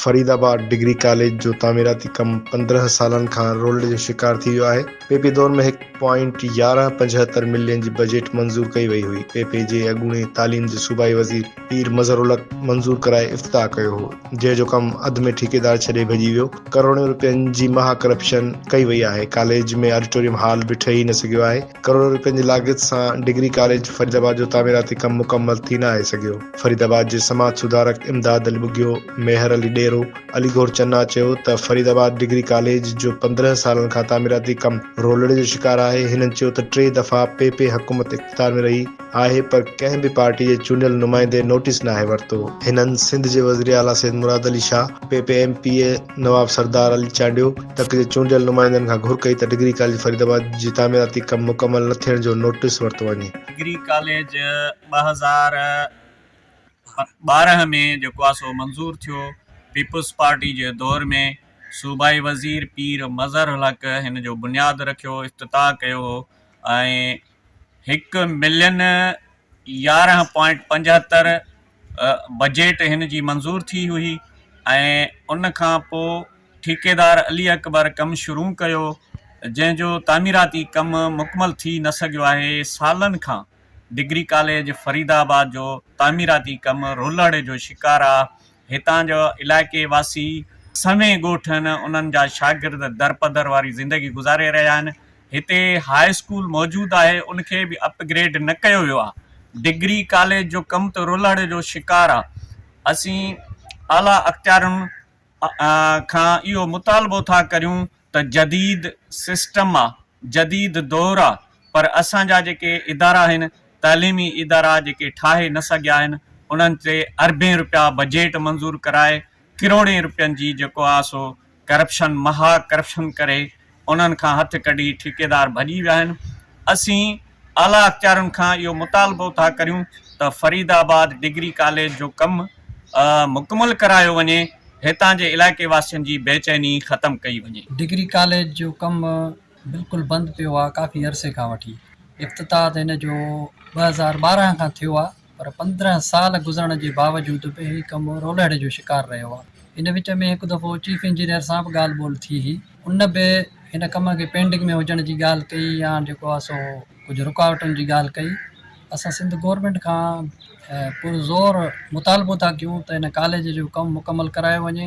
فريد آباد degree college جو تعميراتي ڪم پندرهن سالن کان رولڊ جو شڪار ٿي ويو آهي، پي پي دور ۾ هڪ پوائنٽ يارهن پنجهتر ملين جي بجيٽ منظور ڪئي وئي هئي، پي پي جي اڳوڻي تعليم جي صوبائي وزير پير مظهرالحق منظور ڪرائي افتتاح ڪيو هو، جنهن جو ڪم اڌ ۾ ٺيڪيدار ڇڏي ڀڄي ويو، ڪروڙين روپين جي مها ڪرپشن ڪئي وئي آهي، ڪاليج ۾ آڊيٽوريم هال به ٺهي نه سگهيو آهي، ڪروڙين روپين جي لاڳت سان ڊگري ڪاليج فريد آباد جو تعميراتي ڪم مڪمل ٿي نه آهي سگهيو. فريد آباد جي سماج سڌارڪ امداد علي ٻگهيو، ميهر علي ڏيرو، علي گور چنا چيو ته فريد آباد ڊگري ڪاليج جو پندرهن سالن کان تعميراتي ڪم رولڙي جو شڪار آهي، هنن چيو ته ٽي دفعا پي پي حڪومت اقتدار ۾ رهي آهي پر ڪنهن به پارٽي جي چونڊيل نمائندي نوٽيس ناهي ورتو، هنن سنڌ جي وزير اعليٰ Syed Murad Ali Shah, P P M P A Nawab Sardar Ali Chandio تڪ جي چونڊيل نمائندن کان گهر ڪئي ته ڊگري ڪاليج فريد آباد جي تعميراتي ڪم مڪمل نه ٿيڻ جو نوٽيس ورتو وڃي. ڊگري ڪاليج ٻه هزار ٻارهن ۾ جيڪو آهي سو منظور ٿيو. پيپلز پارٽي جي دور ۾ صوبائي وزير پير مظهر الحق هن جو بنياد رکيو، افتتاح ڪيو هو ۽ هڪ ملين يارهن پوائنٽ پنجهتر بجيٽ هن جي منظور ٿي هئي ۽ ان کان پوء ٺيڪيدار علي اڪبر ڪم شروع ڪيو، جنهن جو تعميراتي ڪم مڪمل ٿي نه سگهيو آهي، سالن کان. ڊگري ڪاليج فريد آباد جو تعميراتي ڪم رولهڙي جو شڪار آ، هتان جو علائقي واسي سوين ڳوٺ ۽ انهن جا شاگرد درپدر واري زندگي گذاري رهيا آهن، هتي هاء اسڪول موجود آهي ان کي به اپ گريڊ نه ڪيو ويو آ، ڊگري ڪاليج جو ڪم ته رولهڙي جو شڪار آ، اسين اعليٰ اختيارين کان اهو مطالبو ٿا ڪريون ته جديد سسٽم آ، جديد دور آ پر اسان جا جيڪي ادارا آهن، تعليمي ادارا جيڪي ٺاهي نه سگهيا آهن انهن تي اربين رپيا بجيٽ منظور ڪرائي ڪروڙين رپين جي جيڪو آ سو ڪرپشن مها ڪرپشن ڪري انهن کان هٿ ڪڍي ٺيڪيدار ڀڄي ويا آهن اسين اعليٰ اختيارين کان اهو مطالبو ٿا ڪريون ته فريد آباد ڊگري ڪاليج جو ڪم مڪمل ڪرايو وڃي هتان جي علائقي واسين جي بيچيني ختم ڪئي وڃي. ڊگري ڪاليج جو ڪم بلڪل بند پيو آهي ڪافي عرصي کان وٺي افتتاح ته هن جو ٻه هزار ٻارهن کان ٿيو آهي پر پندرهن سال گذرڻ جي باوجود به هي ڪم رولهڙي جو شڪار رهيو آهي. ان وچ ۾ هڪ دفعو چيف انجنيئر سان به ڳالهه ٻولهه ٿي هئي. ان به هن ڪم کي پينڊنگ ۾ هجڻ جي ڳالهه ڪئي يا جيڪو آهي سو ڪجهه رڪاوٽن جي ڳالهه ڪئي. اسان سنڌ گورنمينٽ کان پرزور مطالبو ٿا ڪيون ته هن ڪاليج جو ڪم مڪمل ڪرايو وڃي.